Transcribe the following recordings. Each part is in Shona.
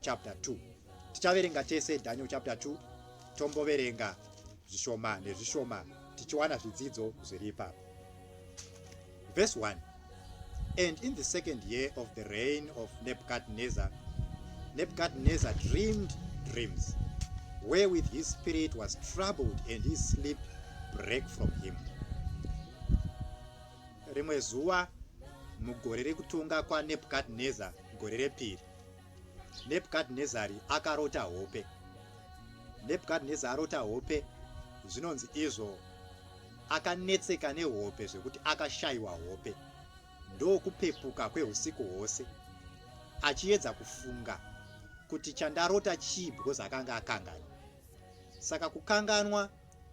chapter 2 tichaverenga tese daniel chapter 2 tomboverenga zvishoma nezvishoma tichiwana zvidzidzo zviri ipapo verse 1 and in the second year of the reign of nebuchadnezzar nebuchadnezzar dreamed dreams wherewith his spirit was troubled and his sleep break from him rimwe zuva mugore rekutonga kwanebuchadnezzar gore repiri nebhukadhinezari akarota hope nebhukadhinezari arota hope zvinonzi izvo akanetseka nehope zvekuti akashayiwa hope ndokupepuka kweusiku hwose achiedza kufunga kuti chandarota chii because akanga akangana saka kukanganwa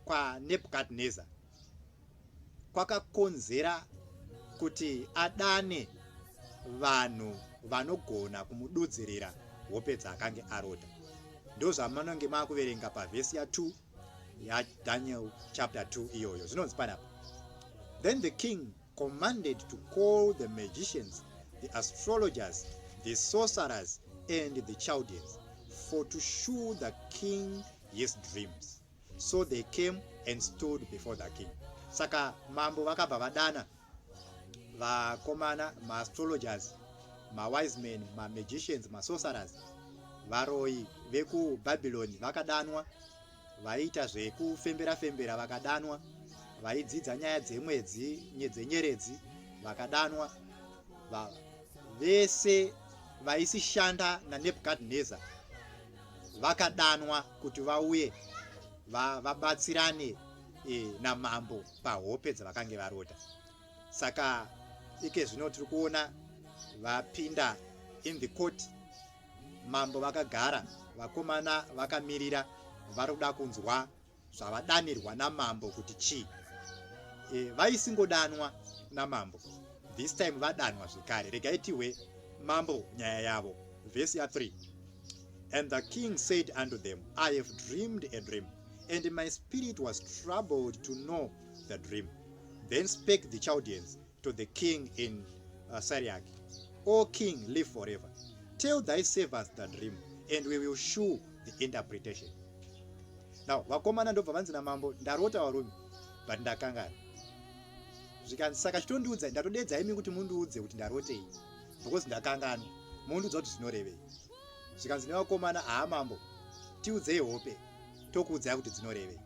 kwanebhukadhinezari kwakakonzera kuti adane vanhu vanogona kumududzirira hope dzaakange aroda ndozvamanonge maakuverenga pavhesi ya2 yadaniel chapter 2 iyoyo zvinonzi panapa then the king commanded to call the magicians the astrologers the sorcerers and the chaldeans for to show the king his dreams So they came and stood before the king. Saka mambo vakabva vadana vakomana maastrologers mawise men mamagicians masorcerers varoyi vekubhabhiloni vakadanwa vaiita zvekufembera fembera vakadanwa vaidzidza nyaya dzemwedzi dzenyeredzi vakadanwa vese vaisishanda nanebukadnezar vakadanwa kuti vauye vabatsirane va e, namambo pahope dzavakange varota saka ike zvino tiri kuona vapinda in the court mambo vakagara vakomana vakamirira vari kuda kunzwa zvavadanirwa namambo kuti chii e, vaisingodanwa namambo this time vadanwa zvekare regai tihwe mambo nyaya yavo vhesi ya 3 And the king said unto them, I have dreamed a dream, and my spirit was troubled to know the dream. Then spake the Chaldeans to the king in uh, Syriac, O king, live forever. Tell thy servants the dream, and we will shew the interpretation. Now, vakomana ndobva vanzi namambo, ndarota varume, but ndakangana. Zvikanzi, saka chitondiudza, ndatodeedza imi kuti mundiudze kuti ndarotei. because ndakanganwa mundiudza kuti zvinorevei zvikanzi nevakomana haa mambo tiudzei hope tokuudzai kuti dzinorevei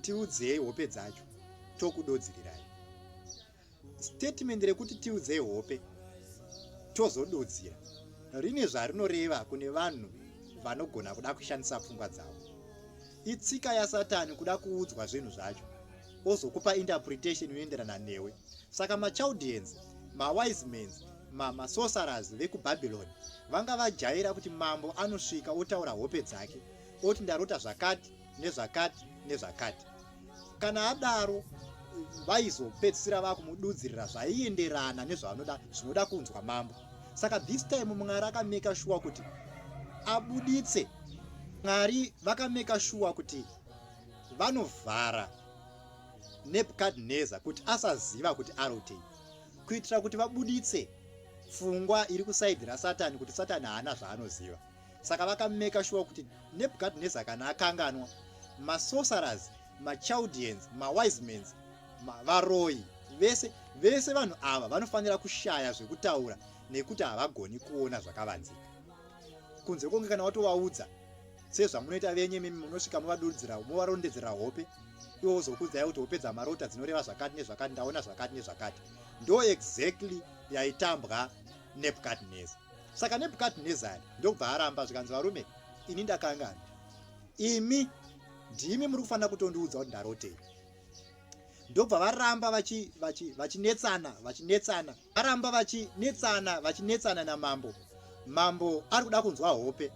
tiudzei hope dzacho tokudodzirirai statement rekuti tiudzei hope tozododzira rine zvarinoreva kune vanhu vanogona kuda kushandisa pfungwa dzavo itsika yasatani kuda kuudzwa zvinhu zvacho ozokupa interpretation inoenderana newe saka machaldeans mawisemans mamasosaras vekubabylon vanga vajaira kuti mambo anosvika otaura hope dzake oti ndarota zvakati nezvakati nezvakati kana adaro vaizopedzisira vakumududzirira zvaienderana nezvavanoda zvinoda kunzwa mambo saka this time mwari akameka shuwa kuti abuditse mwari vakameka shuwa kuti vanovhara nebukadnezar kuti asaziva kuti arotei kuitira kuti vabuditse pfungwa iri kusaidhi rasatani kuti satani haana zvaanoziva saka vakameka shuwa kuti nebukadnezar kana akanganwa masorcerers machaldians mawisemans varoyi vese vese vanhu ava vanofanira kushaya zvekutaura nekuti havagoni kuona zvakavanzika kunze konge kana watovaudza sezvamunoita venyu imimi munosvika movaduridzira movarondedzera hope ivo vozokuudzai kuti hope dzamarota dzinoreva zvakati nezvakati ndaona zvakati nezvakati ndo exactly yaitambwa nebukadneza saka nebukadnezari ndokubva aramba zvikanzi varume ini ndakangana imi ndimi muri kufanira kutondiudza kuti ndarotei ndokubva varamba vachinetsana vachinetsana vachi aramba vachinetsana vachinetsana namambo mambo ari kuda kunzwa hope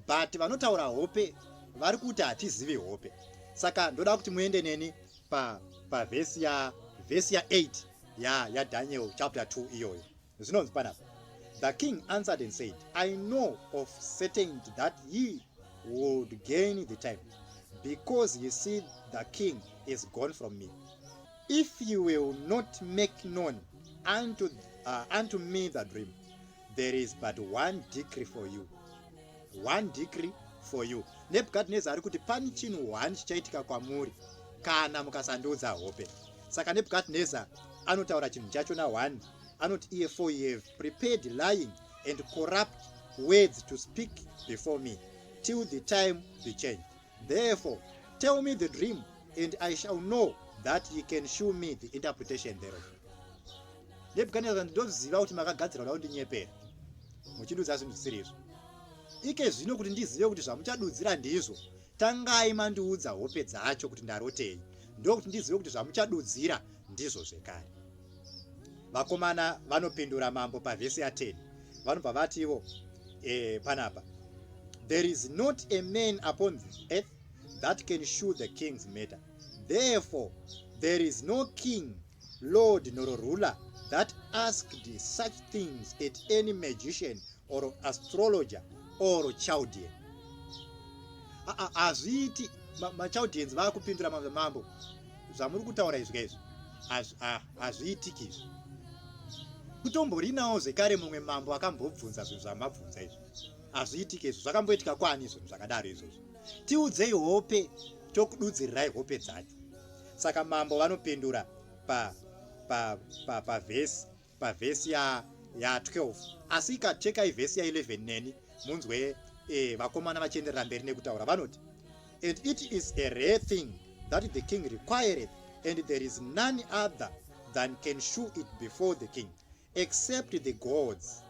but vanotaura hope vari kuti hatizivi hope saka ndoda kuti muende neni pavhesi pa ya vhesi ya8 ya yadaniel chapter 2 iyoyo zvinonzi panapa the king answered and said i know of certainty that ye would gain the time because ye see the king is gone from me If you will not make known unto, uh, unto me the dream, there is but one decree for you. One decree for you. Nebukadnezar ari kuti pani chinhu one chichaitika kwamuri kana mukasandiudza hope. Saka Nebukadnezar anotaura chinhu chacho na one anoti iye for you have prepared lying and corrupt words to speak before me till the time be changed. Therefore, tell me the dream, and I shall know that ye can show me the interpretation thereof. Nebukadnezar, ndinoziva kuti makagadzira kuda kundinyepera, muchidudza zvinhu zvisiri izvo. Ike zvino kuti ndizive kuti zvamuchadudzira ndizvo, tangai mandiudza hope dzacho kuti ndarotei, ndokuti ndizive kuti zvamuchadudzira ndizvo zvekare. vakomana vanopindura mambo pavhesi ya10 vanobva vati ivo eh, panapa there is not a man upon the earth that can shoe the king's matter therefore there is no king lord nor ruler that asked such things at any magician or astrologer or chaldean hazviiti ah, ah, machaldeans vakupindura mambo zvamuri kutaura izvi kaizvi hazviitiki izvi kutomborinawo zvekare mumwe mambo akambobvunza zvinhu zvamabvunza izvi hazviitiki izvi zvakamboitika kwani zvinhu zvakadaro izvozvo tiudzei hope tokududzirirai hope dzacho saka mambo vanopindura pavhesi pa, pa, pa pavhesi ya ya 12 asi ka chekai vhesi ya 11 neni munzwe eh, vakomana vachienderera mberi nekutaura vanoti and it is a rare thing that the king required and there is none other than can show it before the king except the gods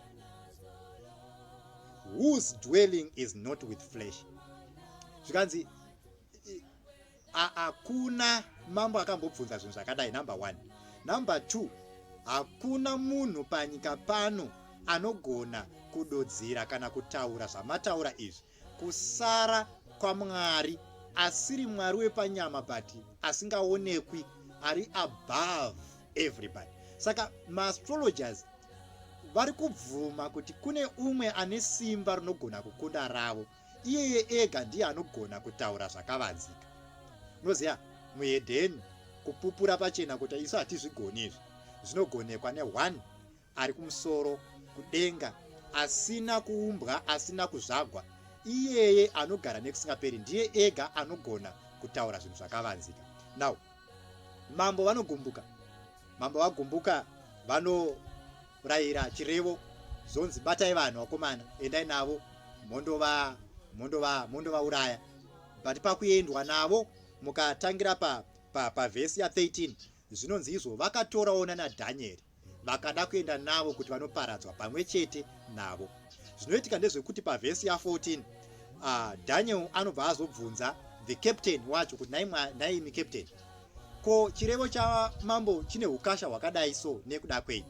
whose dwelling is not with flesh zvikanzi hakuna mambo akambobvunza zvinhu zvakadai number one number two hakuna munhu panyika pano anogona kudodzera kana kutaura zvamataura izvi kusara kwamwari asiri mwari wepanyama but asingaonekwi ari above everybody saka maastrologers vari kubvuma kuti kune umwe ane simba rinogona kukunda ravo iyeye ega ndiye anogona kutaura zvakavanzika unoziva muhedheni kupupura pachena kuti isu hatizvigoni izvi zvinogonekwa neone ari kumusoro kudenga asina kuumbwa asina kuzvagwa iyeye anogara nekusingaperi ndiye ega anogona kutaura zvinhu zvakavanzika now mambo vanogumbuka mambo vagumbuka vano Kurayira chirevo zonzi batai vanhu vakomana endai navo mondova mondova mondovauraya but pakuendwa navo mukatangira pa pa pavhesi ya 13 zvinonzi izvo vakatorawo nana dhanyeri vakada kuenda navo kuti vanoparadzwa pamwe chete navo zvinoitika ndezvekuti pavhesi ya 14 uh, daniel anobva azobvunza the captain wacho kuti naimwa naimi captain ko chirevo chamambo chine ukasha hwakadai so nekuda kwei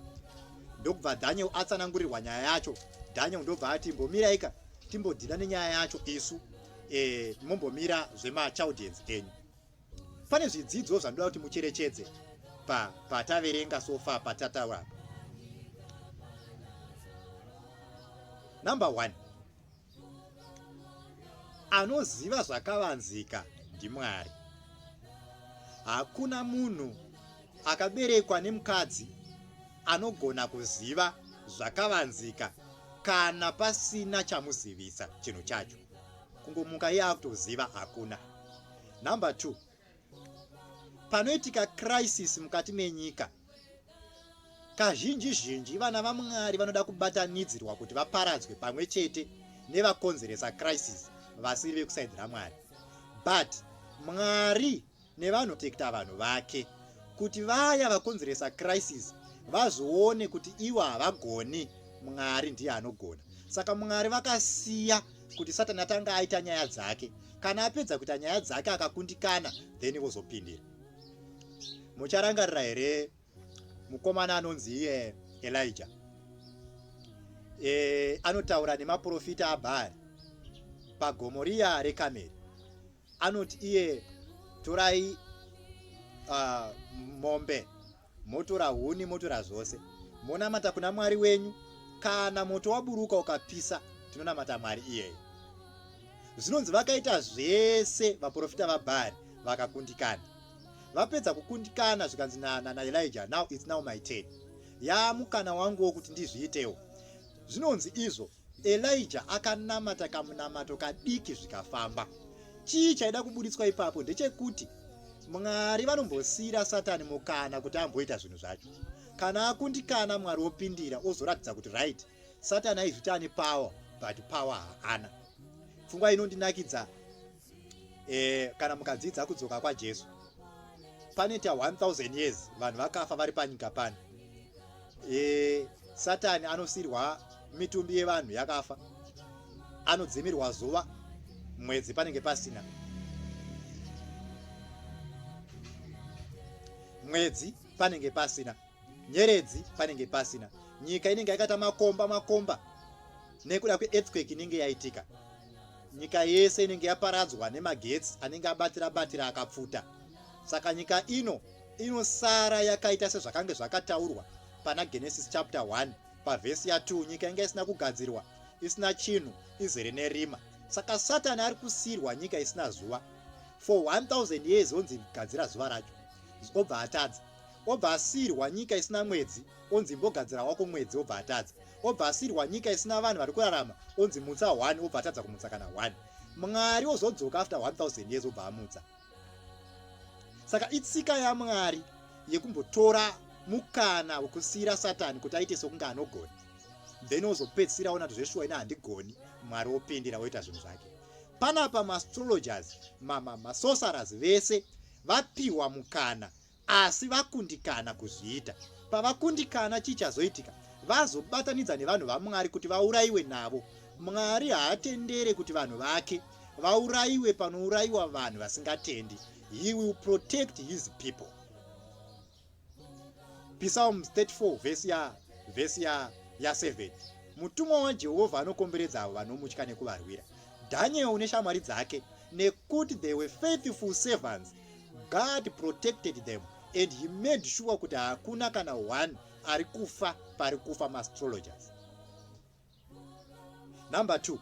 ndokubva daniel atsanangurirwa nyaya yacho daniel ndobva ati mbomiraika timbodhila nenyaya yacho isu e, mombomira zvemachaudience enyu pane zvidzidzo zvandoda kuti mucherechedze pataverenga pa sofa patataura number one Anoziva zvakavanzika ndiMwari. Hakuna munhu akaberekwa nemukadzi anogona kuziva zvakavanzika kana pasina chamuzivisa chinhu chacho kungomuka iye akutoziva hakuna number two panoitika crisis mukati menyika kazhinji zhinji vana vamwari vanoda kubatanidzirwa kuti vaparadzwe pamwe chete nevakonzeresa crisis vasiri vekusaidzi ramwari but mwari nevanotekta vanhu vake kuti vaya vakonzeresa crisis vazoone kuti ivo havagoni mwari ndiye anogona saka mwari vakasiya kuti satani atanga aita nyaya dzake kana apedza kuita nyaya dzake akakundikana then vozopindira mucharangarira here mukomana anonzi iye elija e, anotaura nemaprofita abhaari pagomo riya rekameri anoti iye torai uh, mombe Motora huni, motora zvose. Monamata kuna Mwari wenyu. Kana moto waburuka ukapisa, tinonamata Mwari iyeyo. Zvinonzi vakaita zvese vaprofita vaBhaari vakakundikana. Vapedza kukundikana zvikanzi na, na, na Elijah, now it's now my turn. Yaamukana wangu wokuti ndizviitewo. Zvinonzi izvo Elijah akanamata kamunamato kadiki zvikafamba. Chii chaida kuburitswa ipapo ndechekuti Mwari vanombosiira Satani mukana kuti amboita zvinhu zvacho. Kana akundikana Mwari opindira ozoratidza kuti right Satani aizviti ane power but power haana. Pfungwa inondinakidza eh, kana mukadzidza kudzoka kwajesu panoita 1000 years vanhu vakafa vari panyika pano eh, satani anosirwa mitumbi yevanhu yakafa anodzimirwa zuva mwedzi panenge pasina mwedzi panenge pasina nyeredzi panenge pasina nyika inenge yakaita makomba makomba nekuda kweearthquake inenge yaitika nyika yese inenge yaparadzwa nemagetsi anenge abatira batira akapfuta saka nyika ino inosara yakaita sezvakange zvakataurwa pana genesis chapter 1 pavhesi ya2 nyika inge isina kugadzirwa isina chinhu izere nerima saka satani ari kusiyirwa nyika isina zuva for 1000 years onzi gadzira zuva racho obva atadza obva asiirwa nyika isina mwedzi onzi imbogadzira wako mwedzi obva atadza obva asiirwa nyika isina vanhu vari kurarama onzi mutsa one obva atadza kumutsa kana one mwari ozodzoka after 1000 years obva amutsa saka itsika yamwari yekumbotora mukana wekusiyira satani kuti aite sokunge anogona then ozopedzisira ona kuti zveshuwa ina handigoni mwari opindira woita zvinhu zvake panapa maastrologers masosaras vese vapiwa mukana asi vakundikana kuzviita pavakundikana chii chazoitika vazobatanidza nevanhu vamwari kuti vaurayiwe navo mwari haatendere kuti vanhu vake vaurayiwe panourayiwa vanhu vasingatendi he will protect his people psalm 34 vhesi ya vhesi ya ya 7 mutumwa wajehovha anokomberedza avo vanomutya nekuvarwira daniel neshamwari dzake nekuti they were faithful servants God protected them and he made sure kuti hakuna kana one ari kufa pari kufa maastrologers number two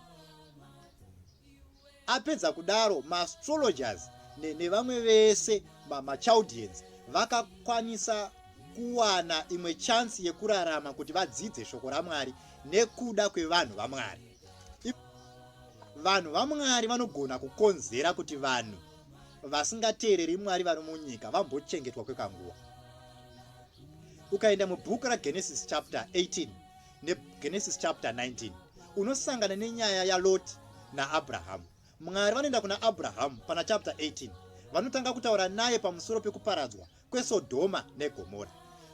apedza kudaro maastrologers nevamwe vese machaldians vakakwanisa kuwana imwe chansi yekurarama kuti vadzidze shoko ramwari nekuda kwevanhu vamwari vanhu vamwari vanogona kukonzera kuti vanhu vasingateereri mwari vari munyika vambochengetwa kwekanguva ukaenda mubhuku ragenesis chapter 18 negenesis chapter 19 unosangana nenyaya yaloti naabrahamu mwari vanoenda kuna abrahamu pana chapter 18 vanotanga kutaura naye pamusoro pekuparadzwa kwesodhoma negomora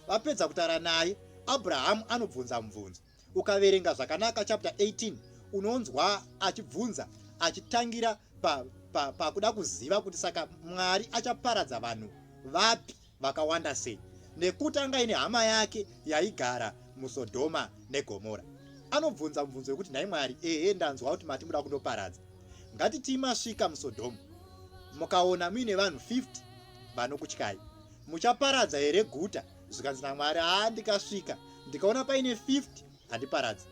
vapedza kutaura naye abrahamu anobvunza mubvunzo Ukaverenga zvakanaka chapter 18 unonzwa achibvunza achitangira pakuda pa, pa kuziva kuti saka Mwari achaparadza vanhu vapi vakawanda sei nekuti anga ine hama yake yaigara musodhoma negomora anobvunza mubvunzo wekuti nhai mwari ehe ndanzwa kuti mati muda kundoparadza ngatitii masvika musodhoma mukaona muine vanhu 50 vanokutyai muchaparadza here guta zvikanzi namwari haa ndikasvika ndikaona paine 50 handiparadzi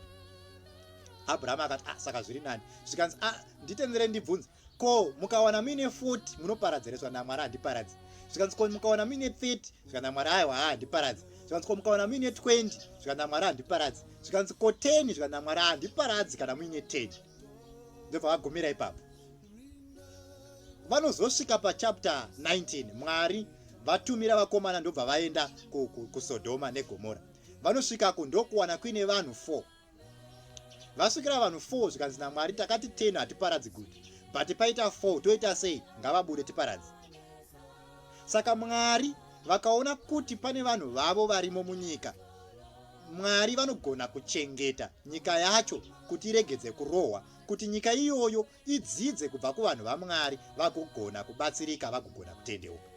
abrahamu akati ah, saka zviri nani zvikanzi ah, nditendere ndibvunze ko mukawana muine 40 munoparadzereswa namwari handiparadzi zvikanzi ko mukawana muine 30 zvikanzi namwari aiwa haa handiparadzi zvikanzi ko mukawana muine 20 zvikanzi namwari handiparadzi zvikanzi ko 10 zvikanzi namwari handiparadzi kana muine 10 ndobva vagumira ipapo vanozosvika pachapter 19 mwari vatumira vakomana ndobva vaenda kusodhoma negomora vanosvikako ndokuwana kuine vanhu 4 vasvikira vanhu 4 zvikanzi namwari takati 10 hatiparadzi good but paita 4 toita sei ngavabude tiparadzi saka mwari vakaona kuti pane vanhu vavo varimo munyika mwari vanogona kuchengeta nyika yacho kuti iregedze kurohwa kuti nyika iyoyo idzidze kubva kuvanhu vaMwari vagogona kubatsirika vagogona kutendeuka.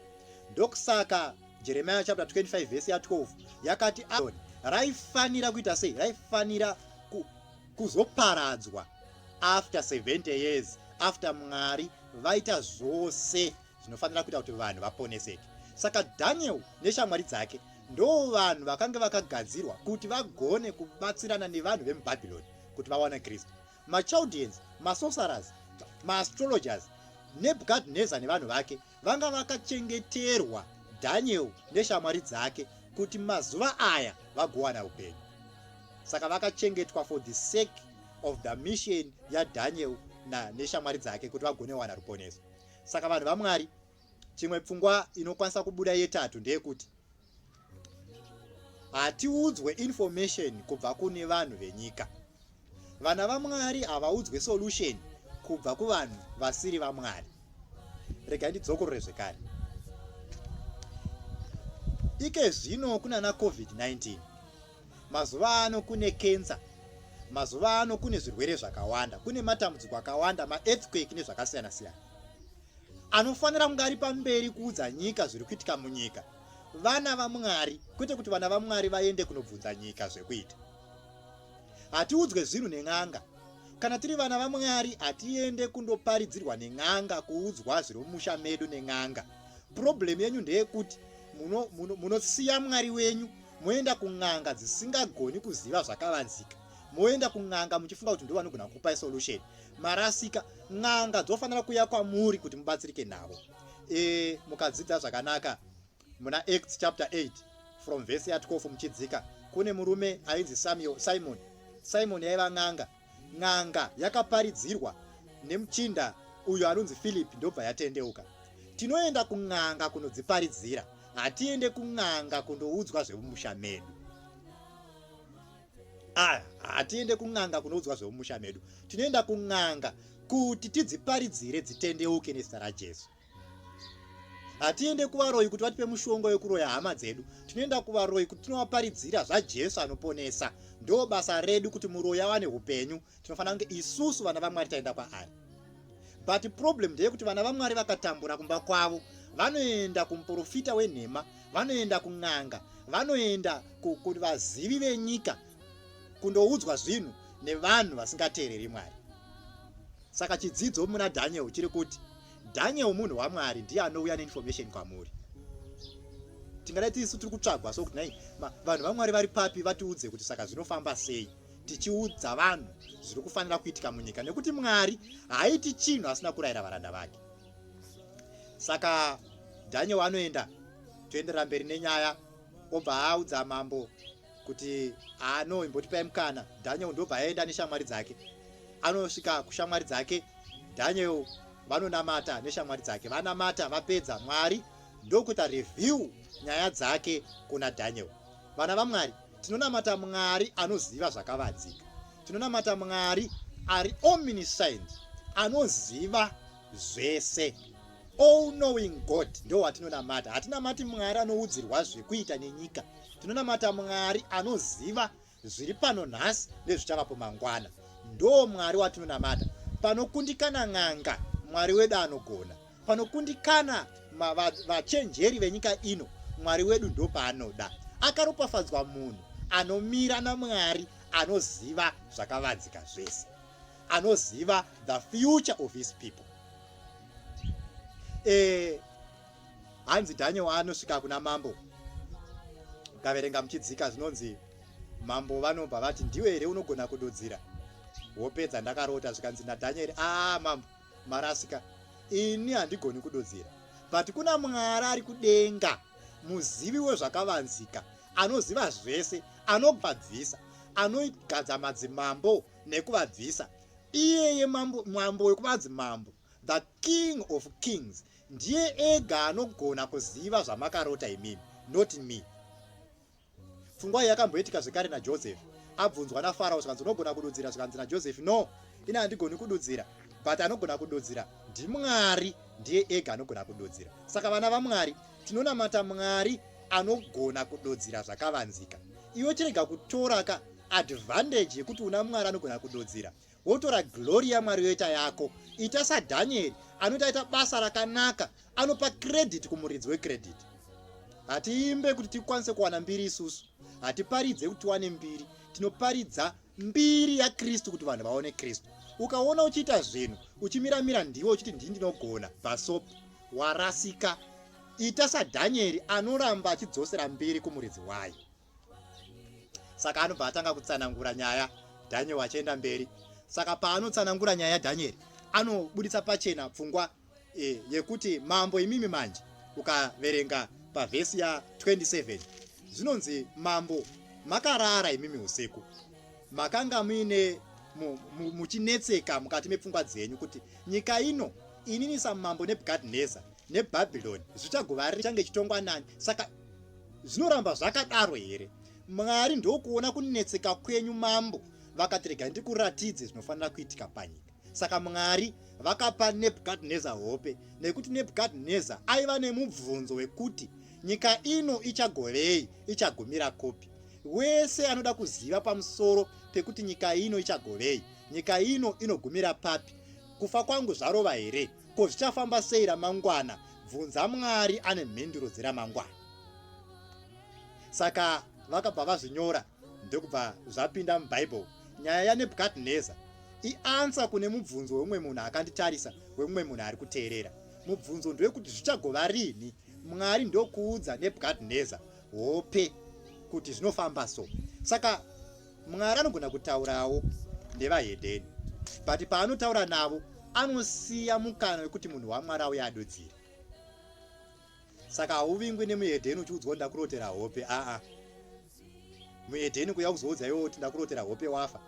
Ndokusaka Jeremiah chapter 25 verse ya 12 yakati Aroni raifanira kuita sei? Raifanira ku, kuzoparadzwa after 70 years after Mwari vaita zvose zvinofanira kuita kuti vanhu vaponeseke saka daniel neshamwari dzake ndoo vanhu vakange vakagadzirwa kuti vagone kubatsirana nevanhu vemubhabhironi kuti vawana kristu machaldeans masorcerers maastrologers nebukadnezar nevanhu vake vanga vakachengeterwa daniel neshamwari dzake kuti mazuva aya vagowana upenyu saka vakachengetwa for the sake of the mission yadaniel neshamwari dzake kuti vagone wana ruponeso Saka vanhu vaMwari, chimwe pfungwa inokwanisa kubuda yetatu ndeyekuti hatiudzwe information kubva kune vanhu venyika. Vana vaMwari havaudzwe solution kubva kuvanhu vasiri vaMwari. Rega ndidzokorore zvekare. Ike zvino kunana COVID-19 Mazuva ano kune cancer, mazuva ano kune zvirwere zvakawanda, kune matambudziko akawanda, maearthquake nezvakasiyana siyana. Anofanira kunge ari pamberi kuudza nyika zviri kuitika munyika, vana vaMwari, kwete kuti vana vaMwari vaende kunobvunza nyika zvekuita. Hatiudzwe zvinhu nen'anga. Kana tiri vana vaMwari, hatiende kundoparidzirwa nen'anga, kuudzwa zviri mumusha medu nen'anga. Problem yenyu ndeyekuti munosiya muno, muno Mwari wenyu moenda kun'anga dzisingagoni kuziva zvakavanzika moenda kun'anga muchifunga kuti ndovanogona kukupai solution marasika n'anga dzofanira kuya kwamuri kuti mubatsirike navo e, mukadzidza zvakanaka muna acts chapter 8 from vhesi ya 12 muchidzika kune murume ainzi samuel simon simon yaiva n'anga N'anga yakaparidzirwa nemuchinda uyo anonzi Philip ndobva yatendeuka. Tinoenda kun'anga kunodziparidzira, hatiende kun'anga kundoudzwa zvemumusha medu. Aya, hatiende kun'anga kunoudzwa zvemumusha medu, tinoenda kun'anga kuti tidziparidzire dzitendeuke nezita raJesu. hatiende kuvaroyi kuti vatipe mushonga wekuroya hama dzedu tinoenda kuvaroyi kuti tinovaparidzira zvajesu anoponesa ndo basa redu kuti muroyi awane upenyu tinofanira kunge isusu vana vamwari taenda kwaari but problem ndeyekuti vana vamwari vakatambura kumba kwavo vanoenda kumuprofita wenhema vanoenda kun'anga vanoenda kuti vazivi venyika kundoudzwa zvinhu nevanhu vasingateereri mwari saka chidzidzo muna dhaniel chiri kuti Daniel munhu waMwari ndiye anouya neinformation kwamuri. Tingadai tisu tiri kutsvagwa so kuti nai vanhu vaMwari vari papi vatiudze kuti saka zvinofamba sei tichiudza vanhu zviri kufanira kuitika munyika nekuti Mwari haaiti chinhu asina kurayira varanda vake. Saka Daniel anoenda toenderera mberi nenyaya obva audza mambo kuti ano imbotipai mukana daniel ndobva aenda neshamwari dzake anosvika kushamwari dzake daniel vanonamata neshamwari dzake vanamata vapedza mwari ndokuita review nyaya dzake kuna daniel vana vamwari tinonamata mwari anoziva zvakavanzika tinonamata mwari ari omniscient anoziva zvese all knowing god ndowatinonamata hatinamati mwari anoudzirwa zvekuita nenyika Tinonamata Mwari anoziva zviri pano nhasi nezvichavapo mangwana. Ndoo Mwari watinonamata. Panokundikana n'anga, Mwari wedu anogona. Panokundikana vachenjeri venyika ino, Mwari wedu ndopaanoda. Akaropafadzwa munhu anomira naMwari anoziva zvakavanzika zvese. Anoziva the future of his people. Eh, hanzi daniel anosvika kuna mambo mukaverenga muchidzika zvinonzi mambo vanobva vati ndiwe here unogona kududzira wopedza ndakarota zvikanzi nadanieri aa ah, mambo marasika ini handigoni kududzira but kuna mwari ari kudenga muzivi wezvakavanzika anoziva zvese anobvabvisa anogadza madzimambo nekuvabvisa iyeye mambo wekuvanzi mambo The king of kings ndiye ega anogona kuziva zvamakarota imimi not me pfungwa yakamboitika zvekare najoseph abvunzwa nafarao zvikanzi unogona kududzira zvikanzi najoseph no ini handigoni kududzira but anogona kududzira ndimwari ndiye ega anogona kududzira saka vana vamwari tinonamata mwari anogona kududzira zvakavanzika iwe chirega kutoraka advantage yekuti una mwari anogona kududzira wotora glory yamwari yoita yako ita sadhanieri anoti aita basa rakanaka anopa credit kumuridzi wecredit hatiimbe kuti tikwanise kuwana mbiri isusu hatiparidze kuti tiwane mbiri tinoparidza mbiri yakristu kuti vanhu vaone kristu ukaona uchiita zvinhu uchimiramira ndiwo uchiti ndii ndinogona bhasop warasika ita sadhanieri anoramba achidzosera mbiri kumuridzi wayo saka anobva atanga kutsanangura nyaya daniel achienda mberi saka paanotsanangura nyaya yadanieri anobuditsa pachena pfungwa e, yekuti mambo imimi manje ukaverenga pavhesi ya 27 zvinonzi mambo makarara imimi usiku makanga muine muchinetseka mukati mepfungwa dzenyu kuti nyika ino inini samambo nebukadnezar nebhabhiloni zvichagova richange chitongwa nani saka zvinoramba zvakadaro here mwari ndokuona kunetseka kwenyu mambo vakati rega ndikuratidze zvinofanira kuitika panyika saka mwari vakapa nebukadnezar hope nekuti nebukadnezar aiva nemubvunzo wekuti nyika ino ichagovei ichagumira kupi wese anoda kuziva pamusoro pekuti nyika ino ichagovei nyika ino inogumira papi kufa kwangu zvarova here Ko zvichafamba sei ramangwana? Bvunza Mwari ane mhinduro dzeramangwana. Saka vakabva vazvinyora ndokubva zvapinda muBhaibheri. Nyaya yaNebhukadhineza iansa kune mubvunzo weumwe munhu akanditarisa, weumwe munhu ari kuteerera. Mubvunzo ndewekuti zvichagova rini? Mwari ndokuudza Nebhukadhineza hope kuti zvinofamba so. Saka Mwari anogona kutaurawo nevahedheni, but paanotaura navo anosiya mukana wekuti munhu waMwari auye adudzire. Saka hauvingwi nemuhedheni uchiudzwa ndakurotera hope, aa muhedheni kuya kuzoudza iwe kuti ndakurotera hope wafa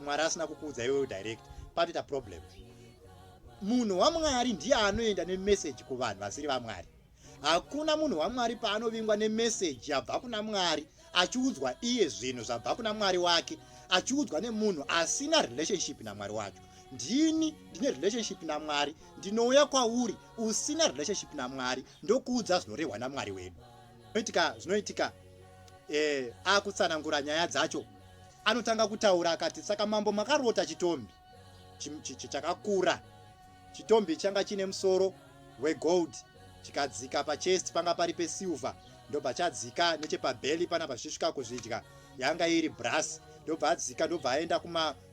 mwari asina kukuudza iwe direct patoita problem munhu wamwari ndiye anoenda nemeseji kuvanhu vasiri vamwari Hakuna munhu waMwari paanovingwa nemeseji yabva kuna Mwari achiudzwa iye zvinhu zvabva kuna Mwari wake achiudzwa nemunhu asina relationship naMwari wacho. Ndini ndine relationship naMwari, ndinouya kwauri usina relationship naMwari ndokuudza zvinorehwa naMwari wedu. Zvinoitika zvinoitika eh, akutsanangura nyaya dzacho anotanga kutaura akati saka mambo makarota chitombi chakakura Chitombi changa chine musoro wegold chikadzika pachest panga pari pesilver ndobva chadzika nechepabelly pana pachisvika kuzvidya yanga iri brass ndobva adzika ndobva aenda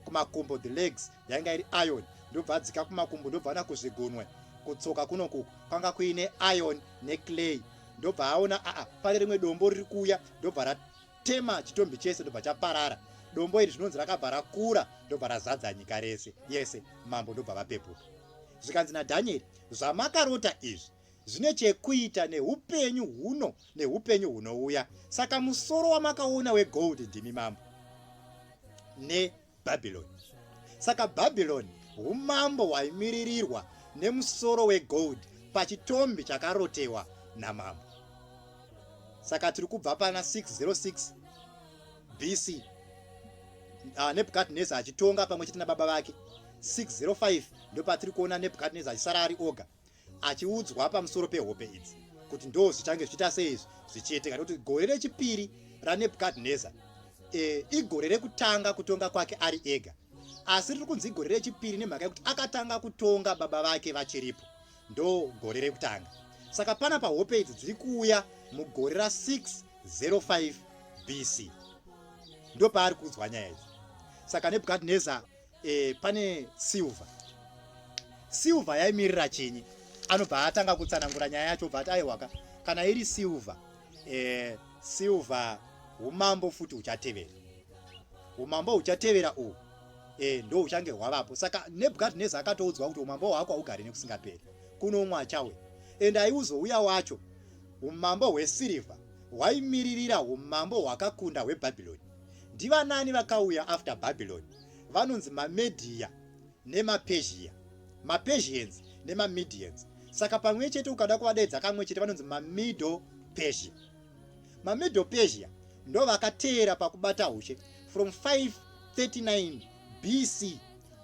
kumakumbo the legs yanga iri iron ndobva adzika kumakumbo ndobva ana kuzvigunwe kutsoka kunoku kwanga kuine iron neclay ndobva aona aa pane rimwe dombo riri kuuya ndobva Tema chitombi chese ndobva chaparara. Dombo iri zvinonzi rakabva rakura ndobva razadza nyika rese yese, mambo ndobva vapepuka. Zvikanzi naDhanieri, zvamakarota izvi zvine chekuita neupenyu huno neupenyu hunouya, saka musoro wamakaona wegold ndimi mambo ne Bhabhironi. Saka Bhabhironi umambo hwaimiririrwa nemusoro wegold pachitombi chakarotewa namambo. Saka tiri kubva pana 606 BC ah, Nebukadnezar achitonga pamwe chete nababa vake 605 ndopatiri kuona Nebukadnezar achisara ari oga. achiudzwa pamusoro pehope idzi kuti ndo zvichange zvichiita sei izvi zvichiitika nekuti gore rechipiri ranebukadnezar e, igore rekutanga kutonga kwake ari ega asi riri kunzi igore rechipiri nemhaka yekuti akatanga kutonga baba vake vachiripo ndo gore rekutanga saka pana pahope idzi dziri kuuya mugore ra605 bc ndopaari kuudzwa nyaya idzi saka nebukadnezar e, pane silver silver yaimirira chinyi anobva atanga kutsanangura nyaya yacho obva ati aiwaka kana iri silver e, silver umambo futi uchatevera umambo uchatevera uhu e, ndo uchange hwavapo saka nebukadnezar akatoudzwa kuti umambo hwako haugari nekusingaperi kunomwa chawe and aiuzouya wacho umambo hwesirivha hwaimiririra umambo hwakakunda hwebhabhironi Ndivanani vakauya after Babylon? Vanonzi maMedia nemaPersia. MaPersians nemaMedians. Saka pamwe chete ukada kuvadaidza kamwe chete vanonzi maMiddle Persia. MaMiddle Persia ndo vakateera pakubata ushe from 539 BC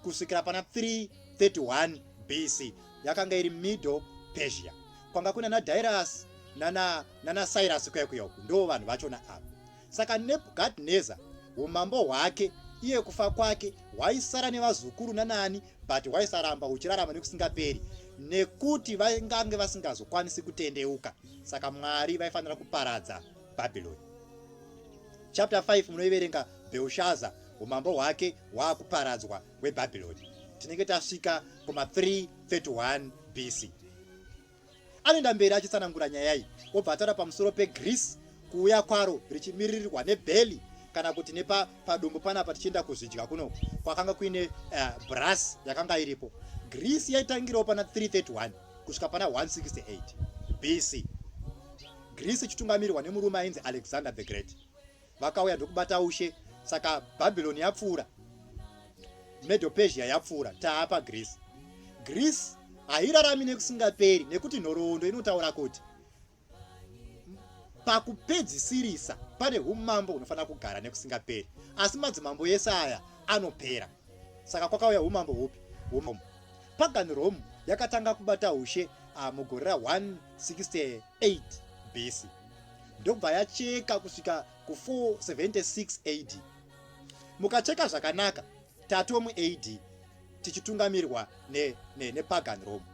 kusvikira pana 331 BC yakanga iri Middle Persia. Kwanga kuna naDyrus nana nana Cyrus kuya kuya uku ndo vanhu vachona ava. Saka Nebukadneza, umambo hwake, iye kufa kwake, hwaisara nevazukuru nanaani, but hwaisaramba huchirarama nekusingaperi, nekuti vaingange vasingazokwanisi kutendeuka. Saka Mwari vaifanira kuparadza Bhabhironi. Chapter 5 munoiverenga Belshaza, umambo hwake hwaakuparadzwa hweBhabhironi. Tinenge tasvika kuma 331 BC. Anoenda mberi achitsanangura nyaya iyi obva ataura pamusoro peGreece kuuya kwaro richimiririrwa nebheli kana kuti nepadumbu panapa tichienda kuzvidya kuno kwakanga kuine uh, eh, bras yakanga iripo greece yaitangirawo pana 331 kusvika pana 168 bc greece ichitungamirirwa nemurume ainzi alexander the great vakauya ndokubata ushe saka babylon yapfuura medo persia yapfuura taapa greece greece hairarami nekusingaperi nekuti nhoroondo inotaura kuti pakupedzisirisa pane umambo hunofanira kugara nekusingaperi asi madzimambo ese aya anopera saka kwakauya umambo hupi pagan rome yakatanga kubata ushe ah, mugore ra 160 8 BC ndobva yacheka kusvika ku 476 AD. Mukacheka zvakanaka tatomu AD tichitungamirwa nepagan ne, ne Rome.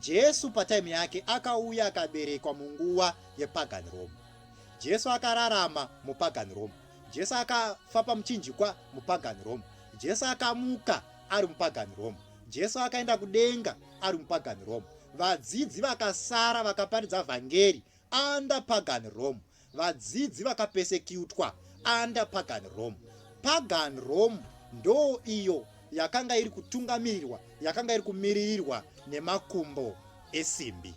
Jesu pataimu yake akauya akaberekwa munguva yepagan Rome. Jesu akararama mupagan Rome. Jesu akafa pamuchinjikwa mupagan Rome. Jesu akamuka ari mupagan Rome. Jesu akaenda kudenga ari mupagani Rome. Vadzidzi vakasara vakaparidza vhangeri under pagani Rome. Vadzidzi vakapesekutwa under pagani Rome. Pagani Rome ndoo iyo yakanga iri kutungamirirwa, yakanga iri kumiririrwa nemakumbo esimbi.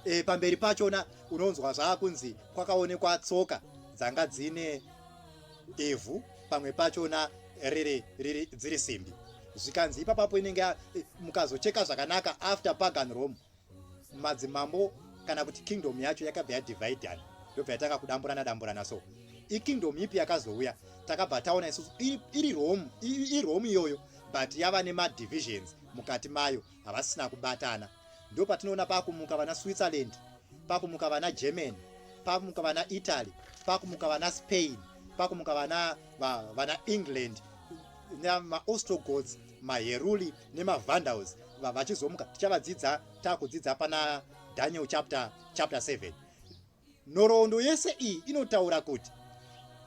E, pamberi pachona unonzwa zvaakunzi kwakaonekwa tsoka dzanga dzine ivhu pamwe pachona riri riri dziri simbi zvikanzi ipapapo inenge eh, mukazocheka zvakanaka after pagan rome madzimambo kana kuti kingdom yacho yakabva yadividan yobva yatanga kudamburana damburana so ikingdom ipi yakazouya takabva taona isusu iri rome irome iyoyo but yava nemadivisions mukati mayo havasina kubatana ndopatinoona pakumuka vana switzerland pakumuka vana germany pakumuka vana italy pakumuka vana spain pakumuka vana va, vana england maostrogods maheruli nemavandals vachizomuka tichavadzidza takudzidza pana daniel chapter chapter 7 Nhoroondo yese iyi inotaura kuti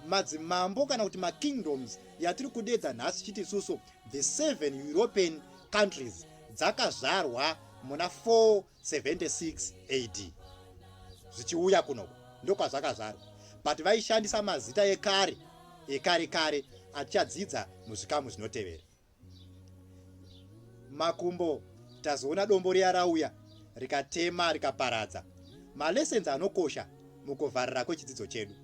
madzimambo kana kuti makingdoms yatiri kudedza nhasi tichiti isusu the seven european countries dzakazvarwa muna 476 ad zvichiuya kunoko ndokwazvakazvarwa but vaishandisa mazita ekare ekare kare atichadzidza muzvikamu zvinotevera makumbo tazoona dombo riya rauya rikatema rikaparadza malessons anokosha mukovharira kwechidzidzo chedu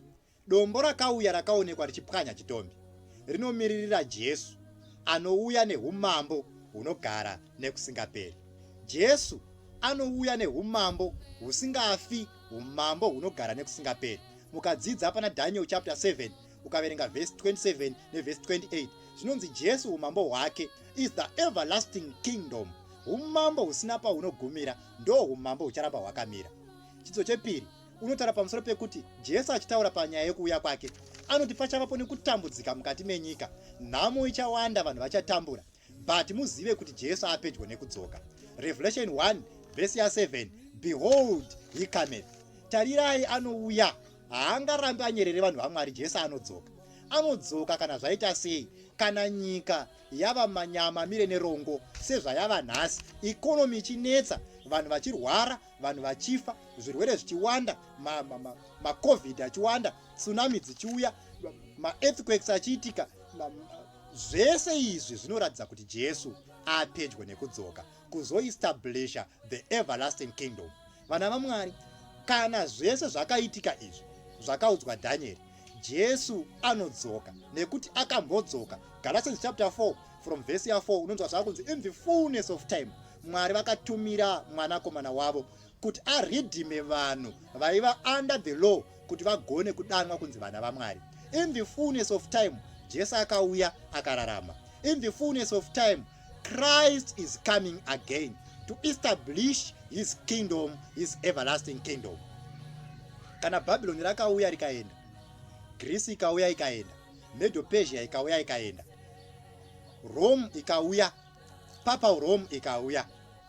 dombo rakauya rakaonekwa richipwanya chitombi rinomiririra jesu anouya neumambo hunogara nekusingaperi jesu anouya neumambo husingafi umambo hunogara nekusingaperi mukadzidza pana daniel chapter 7 ukaverenga vhesi 27 nevhesi 28 zvinonzi jesu umambo hwake is the everlasting kingdom umambo husina pahunogumira ndo umambo hucharamba hwakamira chidzo chepiri unotaura pamusoro pekuti jesu achitaura panyaya yekuuya kwake anoti pachavapo nekutambudzika mukati menyika nhamo ichawanda vanhu vachatambura But muzive kuti Jesu apedyo nekudzoka. Revelation 1 verse ya 7 Behold he cometh. Tarirai anouya. Haangarambi anyerere vanhu vaMwari Jesu anodzoka. Anodzoka kana zvaita sei? Kana nyika yava manyama mire nerongo sezvayava nhasi, economy ichinetsa, vanhu vachirwara, vanhu vachifa, zvirwere zvichiwanda, macovid ma, ma achiwanda, tsunami dzichiuya, maearthquakes achiitika, Zvese izvi zvinoratidza kuti Jesu apedyo nekudzoka kuzoestablisha the everlasting kingdom. Vana vaMwari, kana zvese zvakaitika izvi zvakaudzwa Dhanieri, Jesu anodzoka nekuti akambodzoka. Galatians chapter 4 from verse ya 4 unonzwa zvava kunzi in the fullness of time Mwari vakatumira mwanakomana wavo kuti aridhime vanhu vaiva under the law kuti vagone kudanwa kunzi vana vamwari in the fullness of time jesu akauya akararama in the fullness of time christ is coming again to establish his kingdom his everlasting kingdom kana bhabhiloni rakauya rikaenda grisi ikauya ikaenda medopesia ikauya ikaenda rome ikauya Papal Rome ikauya.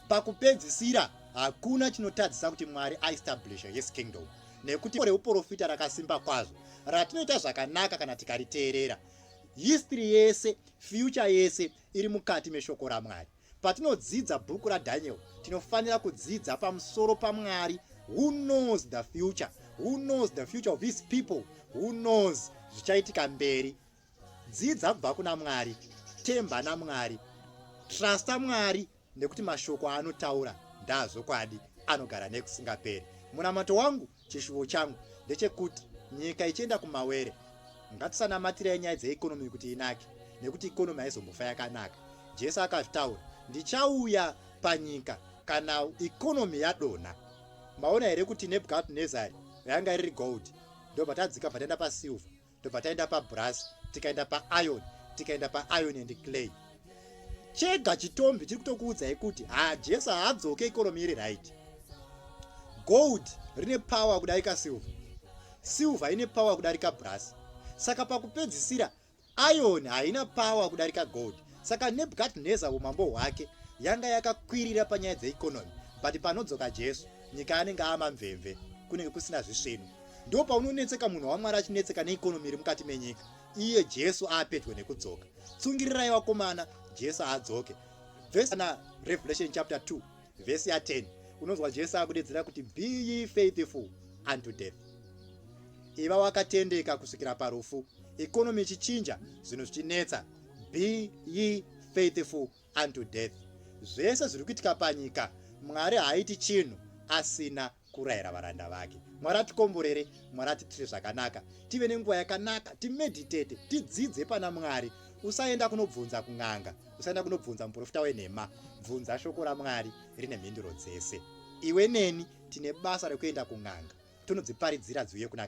Pakupedzisira, hakuna chinotadzisa kuti Mwari aestablishe his kingdom, nekuti reuporofita rakasimba kwazvo ratinoita zvakanaka kana tikariteerera. History yese, future yese iri mukati meshoko raMwari. Patinodzidza bhuku raDaniel, tinofanira kudzidza pamusoro paMwari who knows the future, who knows the future of his people, who knows zvichaitika mberi dzidza kubva kuna mwari temba namwari trusta mwari nekuti mashoko aanotaura ndaazvokwadi anogara nekusingaperi munamato wangu chishuvo changu ndechekuti nyika ichienda kumawere ngatisanamatira nyaya dzeekonomi kuti inake nekuti ikonomi haizombofa yakanaka jesu akazvitaura ndichauya panyika kana ikonomi yadonha maona here kuti nebukadnezari ranga riri gold ndobva tadzika bva taenda pasilver tobva taenda pabrass tikaenda pairon tikaenda pairon and clay chega chitombi chiri kutokuudzai kuti ha jesu haadzoke ikoromi iri right gold rine power kudarika silver silver ine power kudarika brass saka pakupedzisira iron haina power kudarika gold saka nebukadnezar umambo hwake yanga yakakwirira panyaya dzeikonomi but panodzoka jesu nyika anenge amamvemve kunenge kusina zvisvinu ndo paunonetseka munhu wamwari achinetseka neikonomi iri mukati menyika iye jesu aapedyo nekudzoka tsungirirai vakomana jesu aadzoke vhesi na revelation chapter 2 vhesi ya 10 unonzwa jesu akudedzera kuti be ye faithful unto death iva wakatendeka kusvikira parufu ikonomi ichichinja zvinhu zvichinetsa be ye faithful unto death zvese zviri kuitika panyika mwari haaiti chinhu asina kurayira varanda vake mwari atikomborere mwari atiitire zvakanaka tive nenguva yakanaka timeditete tidzidze pana mwari usaenda kunobvunza kun'anga usaenda kunobvunza muprofita wenhema bvunza shoko ramwari rine mhinduro dzese iwe neni tine basa rekuenda kun'anga tonodziparidzira dziuye kuna